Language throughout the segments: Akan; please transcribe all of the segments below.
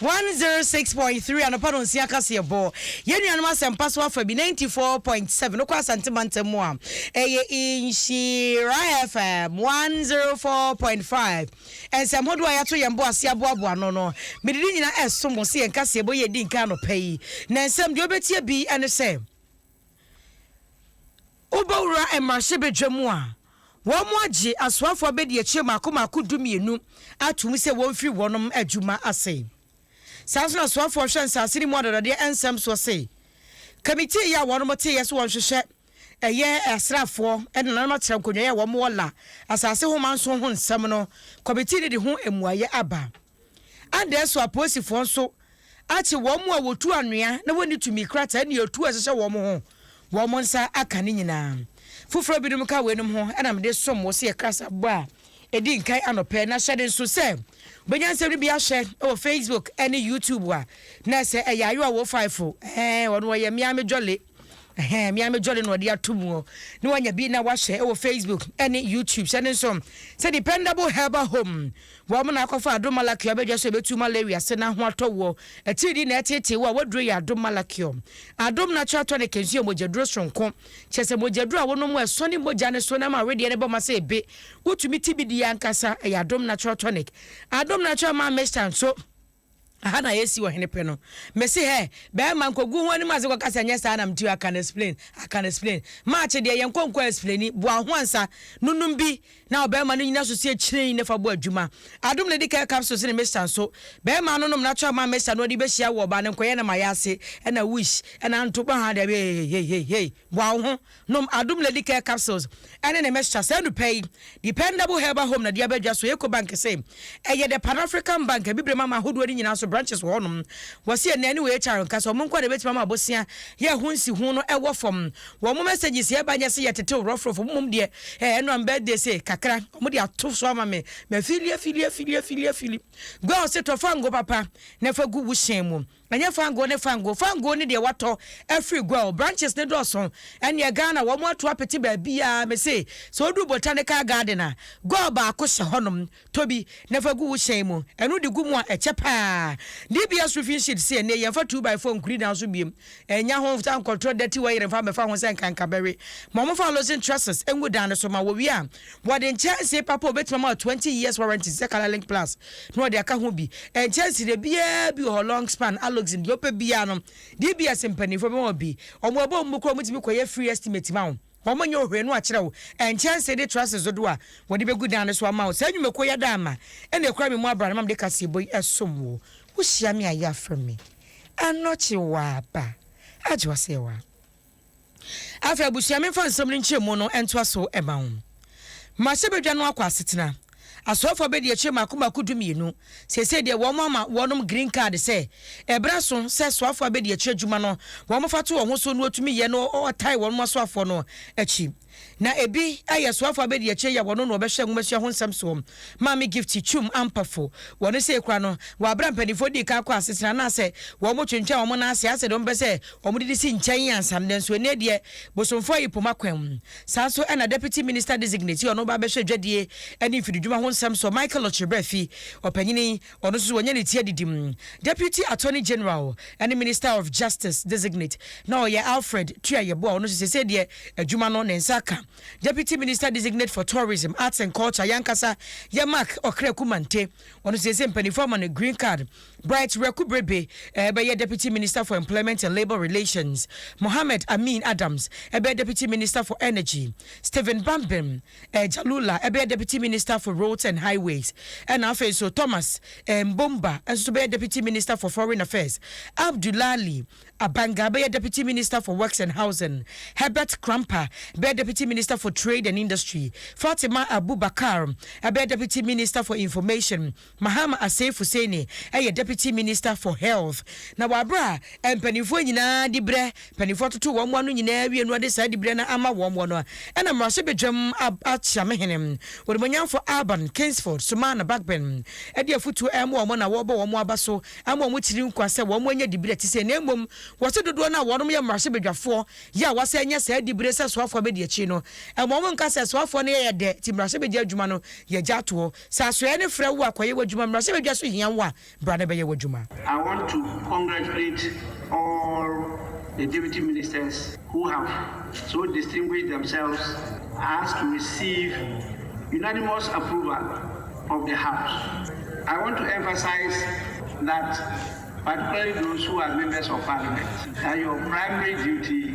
One zero six point three anɔpa no nsia kaseɛ bɔ yɛn nuanom asɛmpa so afa bi ninety four point seven no kɔ asante mantam mu a ɛyɛ nhyira fm one zero four point five nsɛm hodoɔ a yɛato yɛn bo ase aboaboa no no mede ne nyinaa ɛso mo sɛ yɛn kaseɛ bɔ yɛ di nka anɔpa yi na nsɛm deɛ wobɛtie bi ɛne sɛ Wobɛwura mmarahyɛbadwa mu a, wɔagye asoafoɔ abadiakyire mmaako mmaako dumienu atom sɛ wɔmfiri wɔnom adwuma ase. Saa ara nso na asoafoɔ a wɔhwɛ nsaase no mu adɔdɔdeɛ nsɛm soɔ se kamitii yi a wɔnom teeɛ sɛ wɔnhwehwɛ ɛyɛ asraafoɔ ne nananom akyerɛnkɔnwai a wɔn wɔ la asaase ho manso ho nsɛm no kɔmitii no de ho mmuaeɛ aba. Adɛn so apolisifoɔ nso akye wɔn a wɔtu anwea na wɔnni tumi krataa ne atuo a ɛhyehyɛ wɔn ho wɔn nsa aka no nyinaa? Foforɔ binom ka weinom ho na mede som wo sɛ yɛ krasabɔ a ɛdi nkan anɔpɛ na hyɛde nso sɛ wobɛnya nsɛm no bi ahwɛ wɔ Facebook ne YouTube a na ɛsɛ ɛyɛ ayowa wo faefo ɛɛ ɔno ɔyɛ meaa me jɔle Ɛhɛɛ me ara me jolly na ɔde ato mu hɔ na wanya bi na wahyɛ wɔ Facebook ne YouTube hyɛ ne nso sɛ Dependable Herbal Home wɔn na akɔfa Adom Malachium abɛdwa so ɛbɛtu malaria se na ho atɔ woɔ atiridii na ɛteetee wo a waduro yɛ Adom Malachium Adom Natural Tonic nso yɛ mogyaduro soronko kyɛ sɛ mogyaduro a wonom a ɛsɔne mogya ne so na ama wedeɛ ne bɔ ma sɛ ebe wotumi ti bi die ankasa ɛyɛ Adom Natural Tonic Adom Natural Man Mixture nso Aha na yɛsi ɔhene pɛ no. Mese hɛ, bɛɛma nkogu ho anim ase kɔka sɛ nyɛ saa na mte o, I can explain, I can explain. Maakye deɛ, yɛnkɔ nkɔ explaini, boa ho ansa, no nom bi na ɔbɛɛma no nyina so sie kyirein ne fa bɔ adwuma. Adom na ɛdi kɛ capsules ne mixture nso. Bɛɛma no nom natural man mixture no ɔde bɛhyia wo ɔbaa no nkɔyɛ no ma yɛ ase, ɛna wish, ɛna nto, bɔ ha daabi, heiheiheihei, boa wo ho. Nom Adom Lady Care Capsules ne ne mixture saa anupɛ yi. Dependable Herbal Home na de aba dwa so. Ecobank se ɛyɛ the Pan African Bank, abibirem aman ahodoɔ no nyinaa so branches wɔ hɔnom. Wɔse ɛnnɛ ne wɔ HR nka sɛ wɔn nko ara na ɛbɛtumi ama abosea yɛ ɛho nsiho no ɛwɔ fam. Wɔn messages ɛba nyɛ se yɛtetew rɔfrɔfo, mmom deɛ eh ɛno am birthday se kakra wɔn de ato so ama me. Mafili afili afili afili afili. Girl se tɔ fango papa na fa gu wo hyɛn mu. Ɛnyɛ fangoo ne fangoo. Fangoo ne deɛ watɔ afiri gua o. Branches no dɔɔso. Ɛnneɛ Ghana, wɔn ato apete baabiara. Mese, sɛ woduru Botanical Garden a, gua baako hyɛ hɔnom. Tɔ bi, na fa gu wo hyɛn mu. Ɛno de gu mu a, ɛkyɛ pa ara. DBS roofing sheet se, ɛnneɛ yɛmfa two by four nkuri dan so biom. Ɛnnya ho nsa nkɔtrɔ dɛte wayere mfa mmɛfa ho sɛ nka nkabɛwe. Ma wɔmfa Loosen trusses ngu dan no so ma wɔwie a, Wɔde nkyɛnsee papa a obetumi ama wo twenty years warranty sɛ Colour Link Plus na wɔde aka ho bi. Nkyɛnsee deɛ biara bi wɔ hɔ, long span, Alloxin, deɛ wopɛ biara no, DBS mpaninfoɔ bɛma wo bi. Wɔn a wɔbom bo koraa wɔtumi kɔyɛ free estimate ma wo. Wɔnyɛ hwee na wɔakyerɛ wo nkyɛnsee de trusses dodoɔ a wɔde bɛgu dan no so ama wo. Saa nnwumakuo yi ada ama ɛna ɛkura me mu abran na ama mede kaseɛbɔ yi ɛsom wo. Wohyia me a yɛ afrɛ me. Anɔkye wo aba. Agye w'asɛyɛwa. Afei abusua memfa nsɛm no nkyerɛmu no ntoa so mma wo. Mahyɛ badwa no akɔ asetena. Asoafo abedi akyire mmaako mmaako dumienu. Seesei deɛ wɔama wɔnom green card sɛ ɛberɛ aso sɛ soafo abedi akyire adwuma no wɔfa to wɔn ho so na wɔtumi yɛ no wɔtae wɔnom asoafoɔ no akyi. Na ebi yɛ soafo abedi akyire yɛ wɔn na wɔbɛhwɛ nwomasua ho nsɛm soɔ. Maame Gifty Twum Ampafo, wɔ ne seekora no, wɔ aberɛ a mpaninfoɔ dii kan kɔɔ asetena anaasɛ wɔtwentwɛn wɔn nan ase ara sɛdeɛ wɔpɛ sɛ wɔde de si nkyɛn ansa no, nanso ɛnnɛ deɛ bosomfoɔ yi poma kwan. Saa nso na Deputy Minister Designate, ɔno ba bɛhwɛ dwadie ne mfididwuma ho nsɛm soɔ, Michael Okyere Bra fi ɔpanyini Ɔno nso wanya ne ti adidi mu. Deputy Attorney General ne Minister of Justice Designate na ɔyɛ Alfred Tuah Yeboah a ɔno nso seesei deɛ adwuma no ne nsa aka. Deputy Minister Designate for Tourism, Arts and Culture yɛn ankasa yɛ Mark Ɔkraku Mante, ɔno nso seesei mpanimfoɔ ama no green card. Bright Werɛku Berebe bɛyɛ Deputy Minister for Employment and Labour Relations. Mohammed Amin Adams bɛyɛ Deputy Minister for Energy. Stephen Bambem. Agya Lula bɛyɛ Deputy Minister for Roads and Highways, ɛna afei nso Thomas Mbomba nso bɛyɛ Deputy Minister for Foreign Affairs, Abdulali Abanga bɛyɛ Deputy Minister for Works and Housing, Herbert Krampa bɛyɛ Deputy Minister for Trade and Industry, Fatima Abubakar bɛyɛ Deputy Minister for Information, Mahama Asseif Husseini yɛ Deputy Minister for Health, na wɔ aberɛ a mpaninfoɔ nyinaa dibrɛ, mpaninfoɔ atoto wɔn ano nyinaa awie no ade saa dibrɛ no ama wɔn no, ɛna mmarahyɛ badwam akyamehene onimuonyamfoɔ Alban Kingsford Suman Bagbin de afotuo rema wɔn na wɔrebɔ wɔn aba so ama wɔn tiri nkwa sɛ wɔn nyɛ dibrɛ te sei na mmom wɔse dodoɔ no a wɔnom yɛ mmarahyɛ badwafoɔ yɛ a wɔasan anya saa dibrɛ sɛ soafoɔ abɛdi akyiri no ɛma wɔn nka sɛ soafoɔ no yɛyɛ dɛ nti mmarahyɛ badwa adwuma no yɛgya atoɔ. Sɛ asoɛeɛ no frɛ wo a, kɔyɛ w'adwuma. Mmarahyɛbadwa nso hia wo a, bra na bɛyɛ w'adwuma. I want to congratulate all the Deputy Ministers who have so distinguished themselves as to receive unanimous approval of the House. I want to emphasize that particularly those who are Members of Parliament, that your primary duty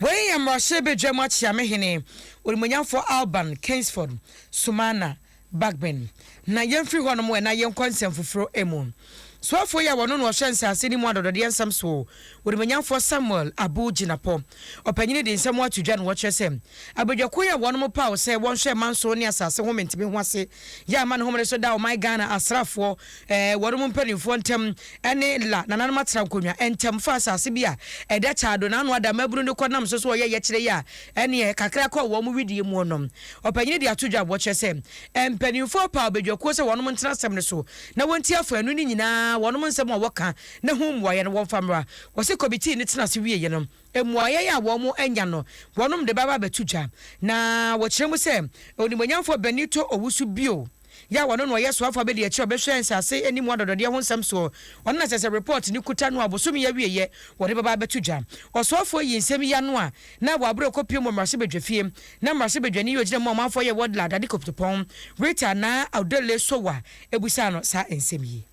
Wei yɛ mmarahyɛ badwam akyea me hene onimuonyamfoɔ Alban Keynsford Sumana Bagbin. Na yɛmfiri hɔnom ɛ na yɛnkɔ nsɛm foforɔ mu. Soafoɔ yi a wɔno na ɔhwɛ nsase no mu adɔdɔdeɛ nsɛm soɔ, onimuonyamfoɔ Samuel Abu Jinapor, ɔpanyini de nsɛm ato dwa na ɔkyerɛ sɛ abadwakuo yi a wɔnom paw sɛ wɔnhwɛ manso ne asase home ntimi ho ase yɛ amane home no so da ɔman Ghana asraafoɔ ɛɛ, wɔnom mpaninfoɔ ntɛm ɛne la nananom atera nkonwa ntɛm fa asaase bi a ɛda kyaado naano ada mmabunu no kɔ nam so so ɔyɛ yɛkyerɛ yi a ɛneɛ kakra kɔ wɔnom wedeɛ mu ɔnom ɔpanyini de ato dwa boɔ kyerɛ sɛ mpaninfoɔ paw badwakuo sɛ wɔnom ntena asɛm no so na wɔntie afoanu no nyinaa wɔnom nsɛm a wɔka na ho mmuaeɛ no wɔmfa mmra wɔ se kɔmitii no tena ase wieɛ no mmuaeɛ a wɔnom anya no wɔnom de bɛba abɛto dwa na wɔkyerɛ mu sɛ onimuonyamfoɔ Benito Owusu bio. Yaw ɔno na ɔyɛ soafo abadiakyiri a ɔbɛhwɛ nsase ani mu adɔdɔdeɛ ho nsɛm soɔ. Ɔno na ɛsɛ sɛ report no kuta no a bosome yi awieɛ wɔde bɛba abɛto dwa. Ɔsoafoɔ yi nsɛm yi ano a na ɛwɔ aberɛ a ɔkɔpuem wɔ mmarahyɛbadwafie na mmarahyɛbadwani yi ɔgyina mu a ɔmanfoɔ yɛ Ward Ladade Koptopong, Rita Naa Audele Sowa busaa no saa nsɛm yi.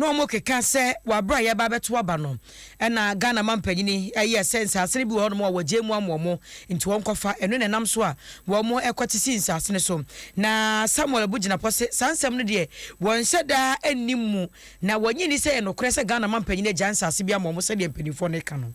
na wɔn keka sɛ wɔabrɛ a yɛreba abɛto aba no ɛna Ghana mampanyini ɛyɛ sɛ nsaase no bi wɔ hɔ nom a wɔgye mu ama wɔn nti wɔn kɔfa ɛno na ɛnam so a wɔn ɛkɔte si nsaase no so na Samuel bu gyinapɔ se saa nsɛm no deɛ wɔn nhyɛ daa ɛnni mu na wɔnye nni sɛ yɛ nokorɛ sɛ Ghana mampanyini agya nsaase bi ama wɔn sɛdeɛ mpaninfoɔ no ɛka no.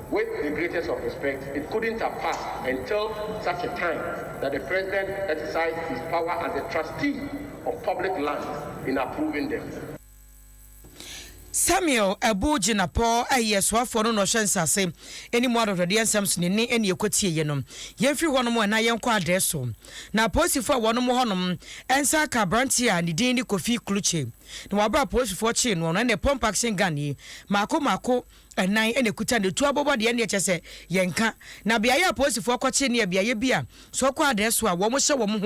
With the greatest of respect, it couldn't have passed until such a time that the President exercised his power as the trustee of public lands in approving them. Samuel Abu Jinapor yɛ soafoɔ no na ɔhyɛ nsase anim adɔdɔdeɛ nsɛm so ne nne ne ɛkɔtieeɛ no. Yɛmfiri hɔnom na yɛnkɔ adɛɛ so. Na apolisifoɔ a wɔnom hɔnom nsa aka aberanteɛ a ne din ne Kofi Kluche na wabra apolisifoɔ kyee noɔ no ne pump action gun yi mmaako mmaako Ɛnan na ɛkuta no, ɛtu abobɔ deɛ ɛnneɛ kyerɛ sɛ yɛnka. Na beaeɛ a apolisifoɔ kɔkye no yɛ beaeɛ bi a sɛ ɔkɔ adeɛ so a wɔhyɛ wɔn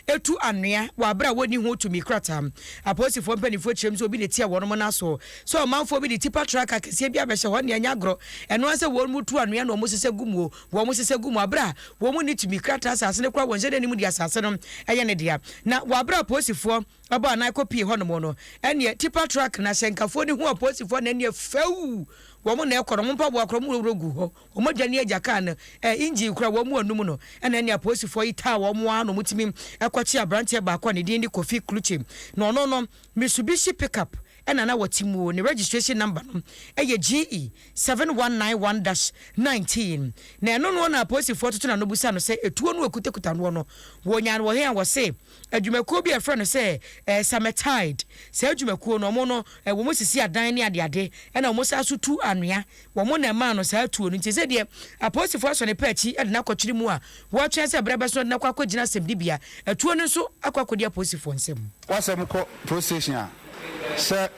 ho tu anwea wɔ aberɛ a wɔnni ho tumi krataa. Apolisifoɔ mpaninfoɔ kyerɛm sɛ obi na ɛtia wɔnom no aso sɛ ɔmanfoɔ bi de tipa truck akɛseɛ bi abɛhyɛ hɔ nea ɛnyɛ agorɔ ɛno ara sɛ wɔnom tu anwea na wɔsesɛ gu muo wɔsesɛ gu mu aberɛ a wɔnni tumi krataa asase no koraa wɔnhyɛ da nnim deɛ asase no yɛ ne dea na wɔ aberɛ a apolisifoɔ Ɔbɔɔ anan kɔpuee hɔnom no, ɛnneɛ tipa truck no ahyɛnkafoɔ no hu apolisifoɔ na ɛnneɛ fɛw! Wɔn na ɛkɔ no, wɔn mpaboa koraa wɔworɔworɔ guu hɔ, wɔn adwa ne agya kaa no ɛɛ engine koraa wɔn anum no, ɛna ɛnneɛ apolisifoɔ yi taa wɔn ara na wɔtumi kɔkye aberanteɛ baako a ne din de Kofi Klutse, na ɔno no Mitsubishi pickup na na ɔte mu, ne registration number no yɛ GE seven one nine one dash nineteen, na ɛno noɔ na apolisifoɔ toto n'ano bisa no sɛ ɛtuo no a ɔkutakuta noɔ no wɔnyaa no wɔ he a, ɔse. adwumakuo bi a yɛfrɛ no sɛ eh, Sametide. Saa adwumakuo no, wɔn no, eh, wɔn sisi adan ne adeade, ɛna wɔn saa so tu anwea. Wɔn na ɛmaa no saa tuo no. Nti sɛ deɛ apolisifoɔ asɔ ne pɛ akyi de no akɔkyere mu a, wɔretwɛn sɛ berɛ bɛso na de no akɔ akɔgyina asɛmdibea. Atuo no nso akɔ akɔdi apolisifoɔ nsam. W'asɛm kɔ police station a, sɛ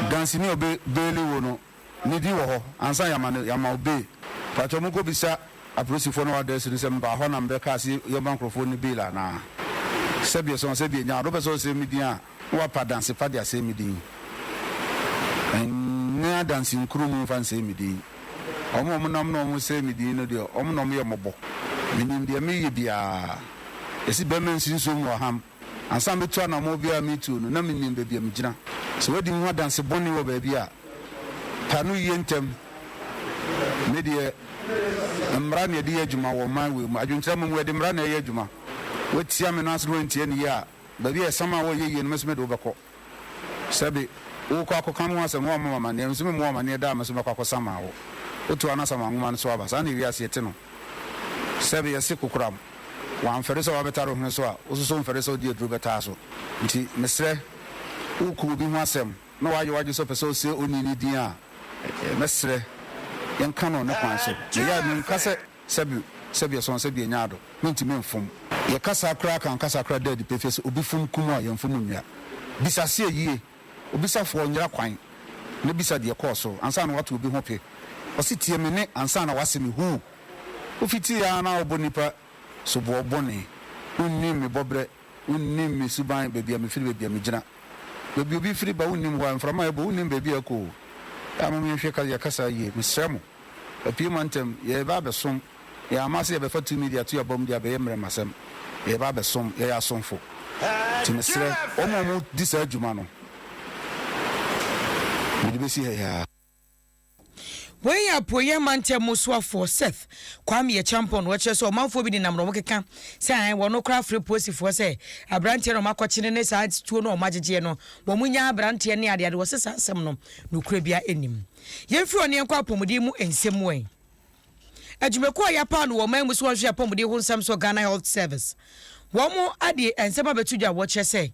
dansini a ɔbɛ baili wo no. Ne din wɔ hɔ ansa na yɛama no yɛama wo bail. Mpakyɛw monkɔ bisa apolisifoɔ no address no sɛ mebaa hɔ na mebɛ kaa se yɛma nkorɔfoɔ no bail anaa. Sɛbi ɛsɛ wɔn sɛ bi anya ade wopɛ sɛ wosɛe me din a na wapa adanse pa de asɛe me din. Ɛnyɛ adanse nkuro mu mfa nsɛe me din. Wɔn a wɔn nam na wɔn sɛe me din no deɛ wɔn na wɔn yɛ mmɔbɔ. Menim deɛ meyɛ biara. Ɛsi bɛma nsi nsuo mu wɔ ham. Ansa na metu anammɔn biara a meretuo no, na menim baabi a megyina. Sɛ woadi me ho adanse bɔne wɔ baabi a, pae no yie ntɛm. Me deɛ, mmara na yɛde yɛ adwuma wɔ ɔman wei mu. Adwenkyerɛ mmom, yɛde mmara na ɛreyɛ adwuma. Woatia me no ansa na woantie no yie a, baabi a ɛsam a wɔnyɛ yie no, me nso mede wo bɛkɔ. Sɛbe, worekɔ akɔka me ho asɛm, woammɔ me amanneɛ, me nso memmɔɔ wo amanneɛ da a me nso mɛkɔ akɔsamaa wo. Wotow anasama nhoma no so aba. Saa na eyi ase te no. Sɛbe, yɛse kokoram, woamfɛre sɛ woabɛtare wo hwene so a, wo nso so womfɛre sɛ wode aduru bɛtaa so. Enti mesrɛ, woreko obi ho asɛm na woayɛ w'adwene sɛ wopɛ sɛ wose onii no din a, mɛsrɛ, yɛnka no ne kwan so. Meyɛ a, menka sɛ. Sɛbi sɛbi ɛsɔn sɛbi ɛnya ado me ntumi mfom. Yɛ kasa koraa kan kasa koraa da adi pefee sɛ obi fom kum a yɛn fom nnua. Bisa seɛ yie, obisa foɔ nyera kwan na bisa deɛ ɛkɔɔ so ansa na wato obi ho pe. Ɔse tie me ne ansa na wase me huu. Wo fiti yɛ ara na wo bɔ nipa soboɔ bɔne. Wo nni me bɔ berɛ. Wonnim me suban, baabi a mefiri, baabi a megyina. Baabi obi firi ba, wonnim hɔ a mframa rebɔ, wonnim baabi a ɛkɔ o. Aa mom yɛnhwɛ ka yɛ kasa yie, mesrɛ mo. Apue ma ntɛm, yɛreba abɛsom. Yɛn ama sɛ yɛbɛfa tumi de ato abam de abɛyɛ mmerɛmasɛm. Yɛreba abɛsom, yɛyɛ asomfo. Nti mesrɛ wɔn a wɔredi saa dwuma no, mede bɛsi ha yi ara. Wei yɛ Apueeɛ Mantam mu soafoɔ Seth Kwame Acheampong na ɔkyerɛ sɛ ɔmanfoɔ bi nenam na wɔkeka sɛ ae wɔn no koraa frɛ Posifoɔ sɛ aberanteɛ no wɔakɔkyene ne saa tuo no a wɔagyegyeɛ no wɔn nyaa aberanteɛ ne adeade wɔse saa asɛm no nokorɛ biara nnim. Yɛmfiri ɔne yɛnkɔ apɔmuden mu nsɛm mu ɛ. Adwumakuo a yɛapaw no wɔ ɔman mu sɛ wɔnhwɛ apɔmuden ho nsɛm so, Ghana Health Service, wɔn de nsɛm abɛto dwa a wɔkyerɛ sɛ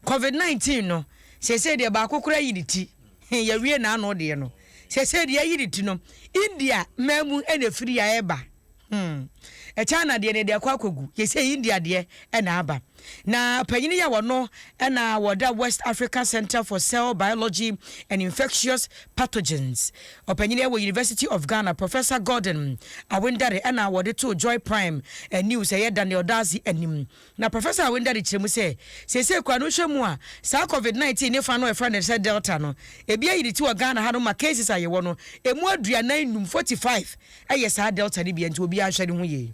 Covid nineteen no, seesei deɛ baako koraa ayi ne ti, he, yɛawie n'ano deɛ no. Seesei deɛ ayi ne ti no, India man mu na ɛfiri a ɛreba, hmm, China deɛ no, ɛde akɔ akɔgu, yɛsɛ India deɛ na aba. Na panyin yi a ɔno na wɔda West African Centre for Cell Biology and Infectious Pathogens, ɔpanyin yi wɔ University of Ghana, Professor Gordon Awendare na wɔde too Joy Prime News ɛyɛ Daniel Dadzie anim. Na Professor Awendare kyerɛ mu sɛ, seesei koraa no nhwɛmu a saa Covid nineteen ne fa no a wɔfrɛ no sɛ Delta no, ebi ayi ne ti wɔ Ghana hanom ma cases a yɛwɔ no, emu aduanan nnum, forty five, yɛ saa Delta no bi, ɛnti obiara nhwɛ ne ho yie.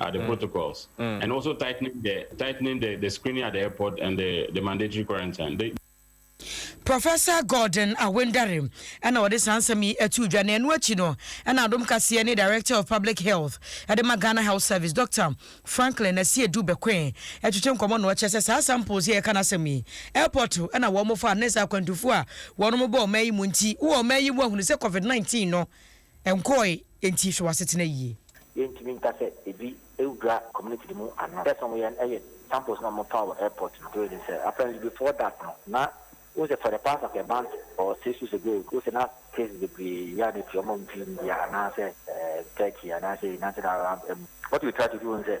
are the protocols and also tightening the tightening the the screening at the airport and the the mandatory quarantine. The, Professor Gordon Awendare na ɔde saa nsɛm yi ato dwa na ɛno akyi no na adom kaseɛ ne Director of Public Health de ma Ghana Health Service Dr. Franklin Asiedu Bekoe ɛtwetwe nkɔmmɔ na ɔkyerɛ sɛ saa samples yi a yɛka n'asɛm yi airport na wɔn fa ne sɛ akwantufoɔ a wɔn bɔ ɔman yi mu nti wɔ ɔman yi mu ahunu sɛ COVID-19 no Ɛnkɔɔe, enti hwɛ w'asetena yie. Yɛntumi nka sɛ ebi wura community no mu anaa. First na wɔyɛ no yɛ samples na wɔfa wɔ airport no. Wei ne sɛ, apparently before that no, na wohu sɛ for the past like a month or six weeks ago, wohu sɛ na cases bebree yɛ a na efi wɔn a wɔmfi India anaasɛ Turkey anaasɛ United Arab Emirates. What we try to do ne sɛ,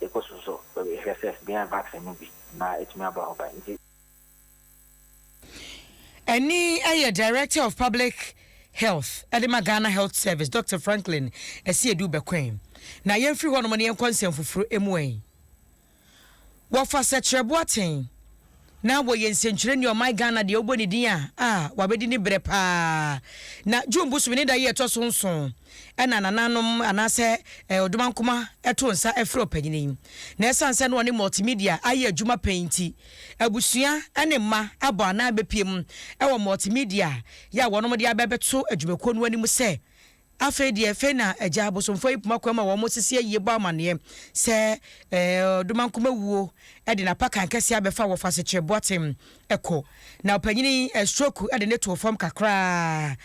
Yɛkɔ so nso hwɛ sɛ yɛbenya vaccine no bi na atumi abɔ ho ban nti. Ɛnne yɛ Director of Public Health de ma Ghana Health Service, Doctor Franklin Asiedu Bɛkɔɛn. Na yɛmfiri hɔnom na yɛnkɔ nsɛmfoforo mu ɛ. Wɔfa Sɛkyerɛboaten na wɔyɛ nsɛntwerɛni ɔman Ghana deɛ wobɔ ne din a, a wabɛdi ne berɛ paa. Na June bosome ne da yi a ɛtɔ so nson ɛna nananom anaasɛ eh, ɔdomankoma ɛto nsa ɛfrɛ ɔpanyin yi. Na ɛsiane sɛ na ɔne multimedia ayɛ adwuma pɛn nti, abusua ɛne mma abɔ anan bɛpie mu ɛwɔ multimedia yɛ a wɔnom de abɛbɛto adwumakuo no anim sɛ Afei deɛ fei na agya abosomfoɔ yi poma kwan mu a wɔn sisi ayie bɔ amaneɛ sɛ ɛɛ Ɔdomankoma wuo de n'apakan kɛseɛ abɛfa wɔfa asekyerɛ Boatem kɔ na ɔpanyin yi stroke de no too fam kakraa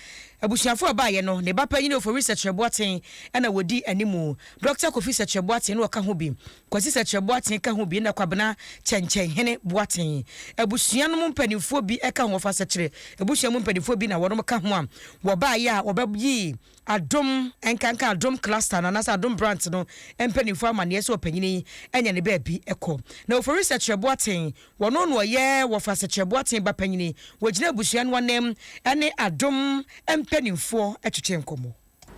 abusuafoɔ a baeɛ no ne ba panyin Ofori Sɛkyerɛ Boaten na wɔdi animu Dɔkta Kofi Sɛkyerɛ Boaten na ɔka ho bi Kwasi Sɛkyerɛ Boateng ka ho bi na Kwabena Kyɛnkyɛnhene Boateng abusua no mu mpanimfoɔ bi ka ho. Wɔfa Sɛkyerɛ abusua mu mpanimfoɔ bi na wɔnom ka ho a wɔbaeɛ a wɔbɛyii Adom nkanka Adom Cluster no anaasɛ Adom Branch no mpanimfoɔ amanneɛ sɛ ɔpanin yi anya ne baabi kɔ. Na Ofori Sɛkyerɛ Boateng, wɔno na ɔyɛ Wɔfa Sɛkyerɛ Boateng ba panin. Wɔgyina abusua no ananmu ne Adom mpanimfoɔ twetwee nkɔmmɔ.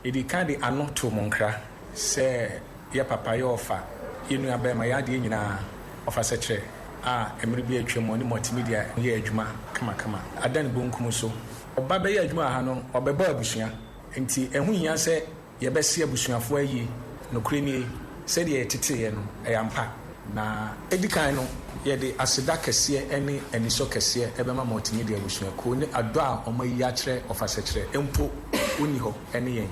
Yɛdi kan de ano to mo nkra sɛ yɛ papa yɛ ɔfa yɛ nua barima yɛ adeɛ nyinaa ɔfa sɛkyerɛ a mmere bi atwam ɔne multimedia yɛɛ adwuma kamakama adan bonkum so ɔba bɛyɛ adwuma wɔ ha no ɔbɛbɔ abusua nti ɛho hia sɛ yɛbɛse abusuafoɔ ayie nokorɛ nie sɛdeɛ yɛteteeɛ no ɛyɛ ampa. Na edi kan no, yɛde aseda kɛseɛ ne anisɔ kɛseɛ bɛma Multimedia abusuakuo ne adɔ a wɔayi akyerɛ ɔfasakyerɛ mpo wonni hɔ ne yɛn.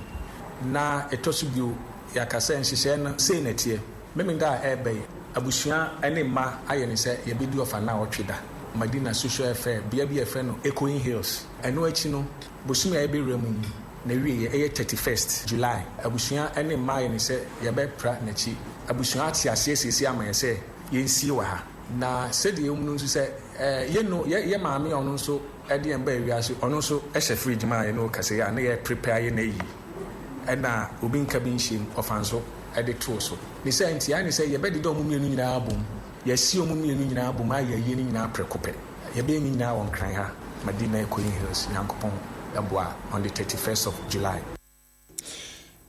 Na ɛtɔ so bio, yɛaka sɛ nhyehyɛeɛ no sei na ɛteɛ, Memeneda a ɛreba yi, abusua ne mma ayɛ ne sɛ yɛbɛdi ɔfa nnawɔtwe da, Madina Social Welfare, bea bi a yɛfrɛ no Echoing Hills. Ɛno akyi no, Bosome a yɛbɛwura mu yi n'awieɛ yɛ thirty first July. Abusua ne mma ayɛ ne sɛ yɛbɛpra n'akyi. Abusua ate aseɛ seesei ama yɛ sɛ yɛnsie wɔ ha. Na sɛdeɛ yɛhunu nso sɛ yɛ no yɛ yɛ maame a ɔno nso de yɛn baa wiase, ɔno nso hyɛ fridge mu a yɛne wo kasa yi a na yɛ prepare ayɛ n'ayi ɛna obi nka bi nhyɛ mu ɔfa nso de too so. Ne saa nti ayɛ ne sɛ yɛbɛdeda wɔn mmienu nyinaa abom. Yɛasie wɔn mmienu nyinaa abom a yɛawie ne nyinaa prɛko pɛ. Yɛbɛyɛ ne nyinaa wɔ Nkran ha, Madina Ikoyi Hills, Nyankopɔn boa, on the thirty first of July.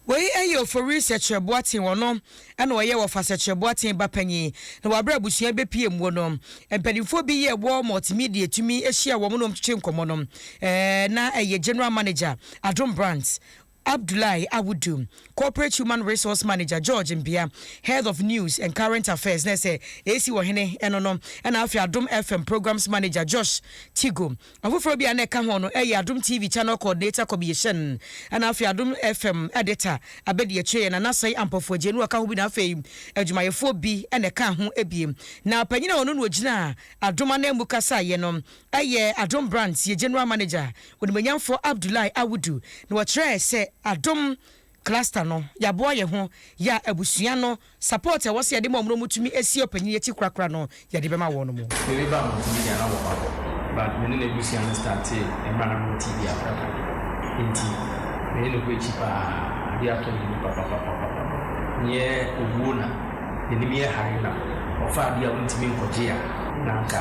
Wei yɛ Ofori Sɛkyerɛ Boateng, ɔno na ɔyɛ Wɔfa Sɛkyerɛ Boateng ba panyin, na wabrɛ abusua yi bɛpue mmuo no. Mpanimfoɔ bi yɛ War Multimedia tumi hyiaa wɔn na wɔkyekyee nkɔmmɔ no. Na ɛyɛ General Manager, Adom Brands, Abdoulaye Awudu, Corporate Human Resource Manager, George Mbia, Head of News and Current Affairs, na sɛ AC Ɔhene ɛno no, ɛna afei Adom FM Programmes Manager, Josh Tigo. Afoforɔ bi a na ɛka ho no ɛyɛ Adom TV Channel Coordinator Kobie Hyɛn, ɛna afei Adom FM Editor abɛdiakyire, ɛna Nasai Ampofo Agyeanu ɔka ho bi na afei adwumayɛfoɔ bi na ɛkaa ho bi. Na panyin a ɔno na ɔgyinaa Adom ananmu kasaeɛ no Ɛyɛ Adom Brands yɛ General Manager, Onimuonyamfoɔ Abdullahi Awudu na ɔkyerɛɛ sɛ Adom Cluster no yɛaboa yɛn ho yɛ a abusua no support a ɛwɔ sɛ yɛde ma wɔn na wɔtumi si ɔpanyin akyi korakora no yɛde bɛma wɔn mu. Me ne ba a mentumi da na wɔ hɔ but me ne n'abusua no startee mmerɛ a na mewɔ TB afra kakra nti me ne no kɔ akyi paa adeɛ atɔ yɛn mu papapapapapa neɛ owuo na n'anim yɛ hare na ɔfa adeɛ a wontumi nkɔgye a na anka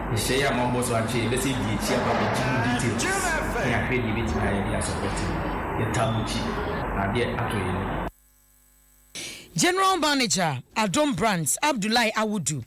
Nhyehyɛe a moabɔ so akyɛ yi bɛsan adi akyi aba abɛgye mu details ne ahwɛdi a ebetumi ayɛ de asupporte mo. Yɛtaa mo akyi na ade atɔ yɛn ani. General Manager, Adom Brands, Abdullahi Awudu,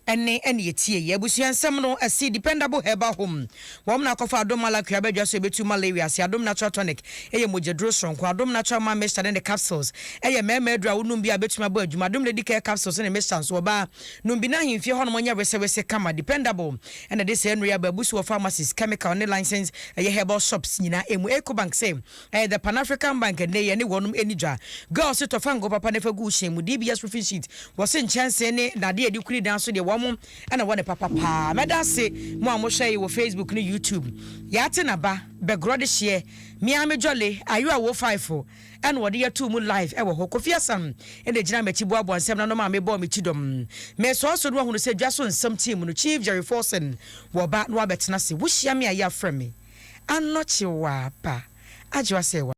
ɛnne na yɛtiei. Abusua nsɛm no, ɛse Dependable Herbal Home, wɔn na wɔakɔfa Adom Malacry aba dwa so a ɛbɛtu malaria ase. Adom Natural Tonic yɛ mogyaduro soronko. Adom Natural Man Mixture ne ne capsules yɛ mmarima aduro a wonom bi a ɛbɛtumi abɔ adwuma. Adom Lady Care Capsules ne Mixture nso, ɔbaa nom bi na ahemfie hɔnom nyɛ wesewese kama, dependable, ɛna ɛde saa nnuru yi aba abu so wɔ pharmacies, chemical ne licensed ɛyɛ herbal shops nyinaa ɛmu. Ecobank se, ɛyɛ the Pan African Bank ɛnnɛ yi ɛne wɔnom ɛni dwa. Girls se tɔ fa ngo papa na fa gu wo hyɛn mu. DBS roofing sheet, wɔse nkyɛnsee ne dadeɛ a yɛde kuri dan so deɛ wɔnom ɛna ɛwɔ ne papa paa. Mɛda ase mo a mohwɛ yi wɔ Facebook ne YouTube. Yaate na ba, bɛgorɔ de hyeɛ, me ara me jolly, ayo a wo faefo. ɛna wɔde yɛ too mu live ɛwɔ hɔ Kofi Asan ɛna ɛgyina makyi boaboa nsɛm no ano maa me bɔɔ me ti dɔm me sɔɔ so na wahunu sɛ dwa so nsɛm team mu no Chief Jerry Forson wɔ ba na wabɛtena ase wohyia me a yɛ afrɛ me Anɔkye wɔ aba Adwoa sɛ wɔ